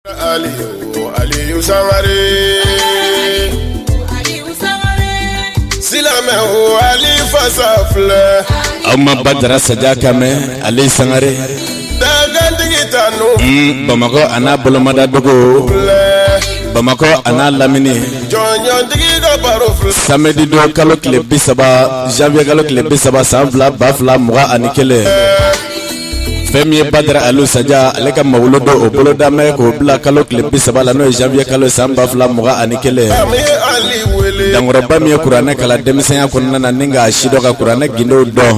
Aliyu Aliyu Sangare. Silamɛ o Ali fasa filɛ. Aw ma Badara Saja ka mɛn Ali Sangare. Dagantigi ta n'o. Bamakɔ a n'a bolomadadugu. Bamakɔ a n'a lamini. Jɔnjɔntigi ka baro filɛ. Samedi don kalo tile bi saba janvier kalo tile bi saba san fila ba fila mugan ani kelen. fɛn min ye badara alu saja ale ka mawuludu o boloda bɛ k'o bila kalo tile bi saba la n'o ye janvier kalo san ba fila mugan ani kelen dankɔrɔba min ye kuranɛ kalan denmisɛnya kɔnɔna na ni k'a sidɔn ka kuranɛ gindow dɔn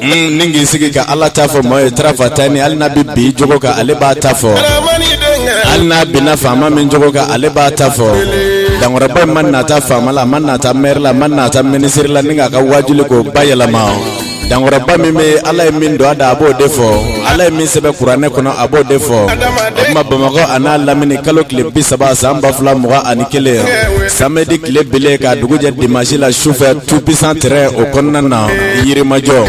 hmm, ni k'i sigi ka ala ta fɔ mɔɔ ye tarafa ta ni hali n'a bɛ bin i jogo kan ale b'a ta fɔ hali n'a binna faama min jogo kan ale b'a ta fɔ dankɔrɔba min ma nata faama la a ma nata mɛri la a ma nata minisiri la ni k'a ka waajuli ko bayɛlɛma dankɔrɔba min bɛ ala ye min don a da a b'o de fɔ ala ye min sɛbɛn kuranɛ kɔnɔ a b'o de fɔ o tuma bamakɔ a n'a lamini kalo tile bi saba san ba fila mugan ani kelen samedi tile bilen ka dugu jɛ dimansi la sufɛ tout puissant terrain o kɔnɔna na yirimajɔ o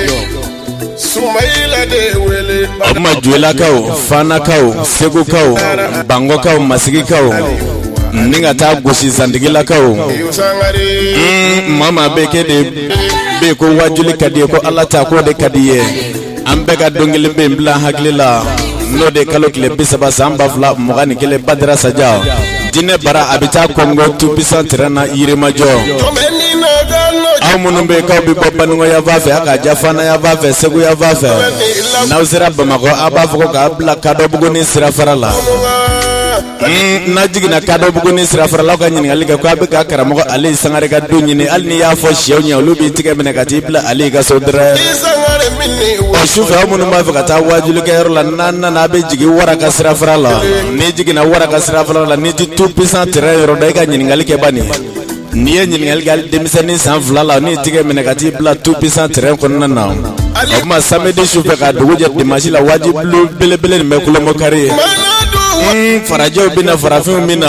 tuma joyilakaw fanakaw segukaw bangɔkaw masigikaw ni ka taa gosi zantigilakaw hmm, maa o maa bɛ kɛ de bɛ ko waajuli ka di i ye ko ala ta ko de ka di i ye an bɛɛ ka don kelen pe in bila hakili la n'o de kalo tile bi saba san ba fila mugan ni kelen badara saja diinɛ bara a bɛ taa kɔngo tout puissant terrain na yirimajɔ aw minnu bɛ k'aw bɛ bɔ bankɔ yanfan fɛ a ka ja fana yanfan fɛ segu yanfan fɛ n'aw sera bamakɔ a b'a fɔ ko k'a bila kadɔbugunin sirafara la n'a jiginna kadɔbugunin sirafara la aw ka ɲininkali kɛ ko a bɛ ka karamɔgɔ ali sangare ka du ɲini hali n'i y'a fɔ shɛw ɲɛ olu b'i tigɛ minɛ ka t'i bila ali ka so dɛrɛ o sufɛ aw minnu b'a fɛ ka taa waajulikɛyɔrɔ la n'a nana a bɛ jigin wara ka sirafara la n'i jiginna wara ka sirafara la n'i tɛ tout puissant terrain yɔrɔ dɔn i ka ɲininkali kɛ bani N'i ye ɲininkali kɛ hali denmisɛnnin san fila la a n'i tigɛ minɛ ka t'i bila tout puissant terrain kɔnɔna na o tuma samedi su fɛ ka dugu jɛ dimansi la waajuli belebele nin bɛ kolomakari ye farajɛw bɛ na farafinw bɛ na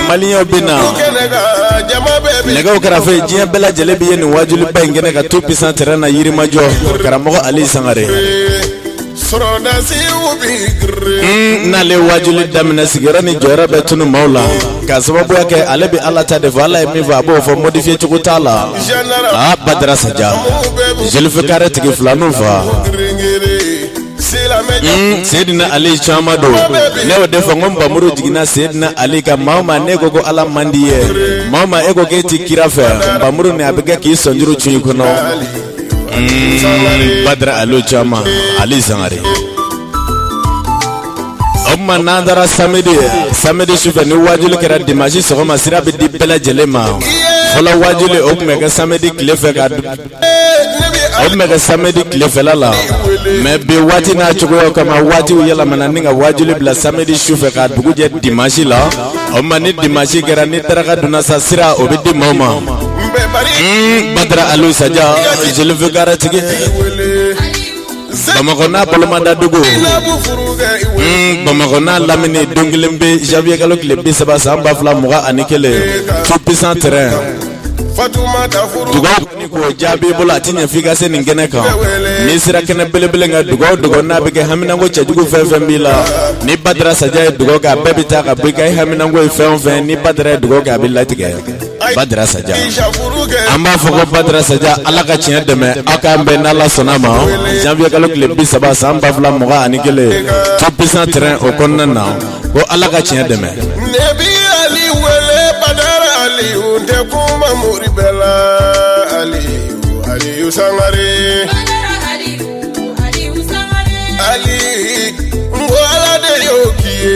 maliyɛnw bɛ na nɛgɛ kɛrɛfɛfe diɲɛ bɛɛ lajɛlen bɛ yen nin waajuliba in kɛnɛ kan tout puissant terrain na yirimajɔ karamɔgɔ ali sangare sɔrɔdasi bɛ girin. N'ale waajuli daminɛ sigiyɔrɔ ni jɔyɔrɔ bɛ tunu maaw la ka sababuya kɛ ale bɛ ala ta de fɔ ala ye min fɔ a b'o fɔ modifié cogo t'a la aa badara saja jelifikare tigi filaninw fa Mm, Seydina Ali tɔgɔma don ne y'o de fɔ n ko nbamuru jiginna Seydina Ali kan maa o maa n'e ko ko ala man di i ye maa o maa e ko k'e ti kira fɛ nbamuru nin a bɛ kɛ k'i sɔnjuru cun i kɔnɔ mm, badara aliou caman aliou sangare o tuma n'an taara samedi samedi sufɛ ni waajuli kɛra dimanche sɔgɔma sira bɛ di bɛɛ lajɛlen ma fɔlɔ waajuli o tun bɛ kɛ samedi tile fɛ ka o tun bɛ kɛ samedi tilefɛla la mais bi waati n'a cogoya kama waatiw yɛlɛmana ni ka waajuli bila samedi sufɛ ka dugu jɛ dimanche la o tuma ni dimanche kɛra ni daraka dunna sa sira o bɛ di maaw ma badara aliou saja zulfikaritigi bamakɔ n'a bolomadadugu bamakɔ n'a lamini don kelen bɛ janvier kalo tile bi saba san ba fila mugan ani kelen tout puissant terrain ko jaabi bolo a tɛ ɲɛ f'i ka se nin kɛnɛ kan n'i sera kɛnɛ belebele kan dugaw o dugaw n'a bɛ kɛ haminanko cɛjugu fɛn o fɛn b'i la ni badara Saja ye dugaw kɛ a bɛɛ bɛ taa ka bɔ i kan i haminanko ye fɛn o fɛn ni badara ye dugaw kɛ a bɛ latigɛ badara Saja an b'a fɔ ko badara Saja Ala ka tiɲɛ dɛmɛ aw k'an bɛn n'Ala sɔnna ma janvier kalo tile bi saba san ba fila mugan ani kelen tout puissant terrain o kɔnɔna na. ko ala ka tiɲɛ dɛmɛ nɛbi ali wele badara aliou n tɛ kuma mori bɛɛ la aliou aliou sangare ali n ko ala de y'o k'i ye